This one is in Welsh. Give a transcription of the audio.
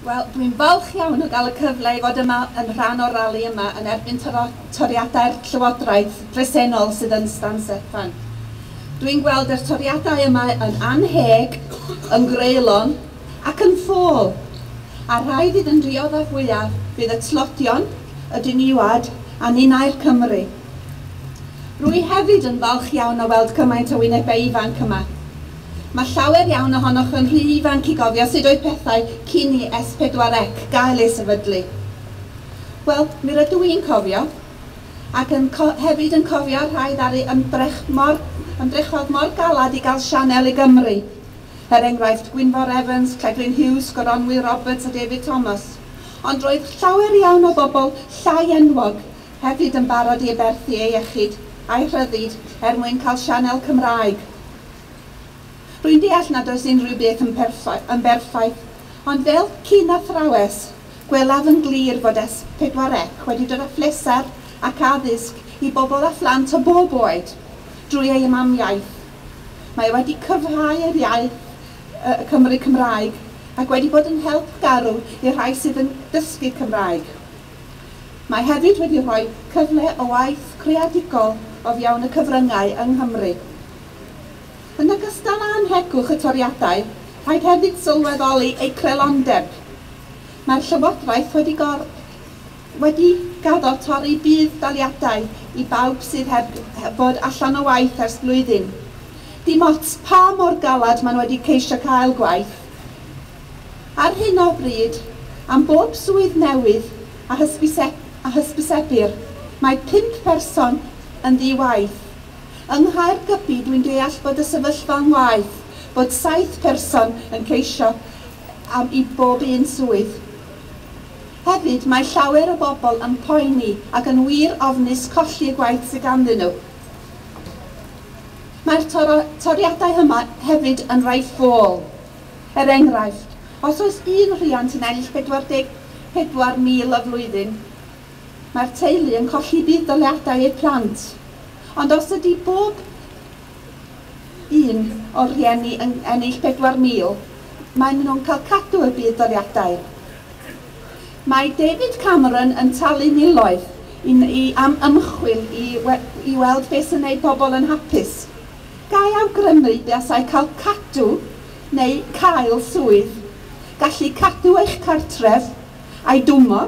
Wel, dwi'n falch iawn o gael y cyfle i fod yma yn rhan o'r rali yma yn erbyn toriadau'r Llywodraeth bresennol sydd yn Stan Steffan. Dwi'n gweld yr toriadau yma yn annheg, yn greulon ac yn ffôl. A rhai fydd yn dioddef fwyaf fydd y tlodion, y diniwed a ninnau'r Cymry. Rwy hefyd yn falch iawn o weld cymaint o wynebau ifanc yma. Mae llawer iawn ohonoch yn rhy ifanc i gofio sut oedd pethau cyn i Es Pedwar Ec gael ei sefydlu. Wel, mi rydw i'n cofio, ac yn co- hefyd yn cofio'r rhai ddaru ymdrech mor, ymdrechodd mor galed i gael sianel i Gymru. Er enghraifft, Gwynfor Evans, Clegrin Hughes, Goronwy Roberts a David Thomas. Ond roedd llawer iawn o bobl llai enwog hefyd yn barod i aberthu eu iechyd a'u rhyddid er mwyn cael sianel Cymraeg. Rwy'n deall nad oes unrhyw beth yn perffaith, yn berffaith, ond fel cyn athrawes, gwelaf yn glir fod S4C wedi dod â phleser ac addysg i bobl a phlant o bob oed drwy ei mamiaith. Mae wedi cryfhau yr iaith y Cymry Cymraeg ac wedi bod yn help garw i'r rhai sydd yn dysgu Cymraeg. Mae hefyd wedi rhoi cyfle o waith creadigol o fewn y cyfryngau yng Nghymru. Yn ogystal â anhegwch y toriadau, rhaid hefyd sylweddoli eu creulondeb. Mae'r Llywodraeth wedi gor-, wedi gaddo torri budd-daliadau i bawb sydd heb fod allan o waith ers blwyddyn. Dim ots pa mor galed maen nhw wedi ceisio cael gwaith. Ar hyn o bryd, am bob swydd newydd a hysbyseb-, a hysbysebir, mae pump person yn ddi-waith. Yng Nghaergybi dwi'n deall bod y sefyllfa'n waeth, bod saith person yn ceisio am i bob un swydd. Hefyd, mae llawer o bobl yn poeni ac yn wir ofnus colli y gwaith sydd ganddyn nhw. Mae'r toriadau yma hefyd yn rhai ffôl. Er enghraifft, os oes un rhiant yn ennill 44,000 y flwyddyn, Mae'r teulu yn colli budd-daliadau eu plant, ond os ydy bob un o'r rhieni yn ennill 4,000, maen nhw'n cael cadw y budd-daliadau. Mae David Cameron yn talu miloedd i ni am ymchwil i i weld beth sy'n gwneud pobl yn hapus. Ga i awgrymu i buasai cael cadw neu cael swydd, gallu cadw eich cartref a'i dwymmo,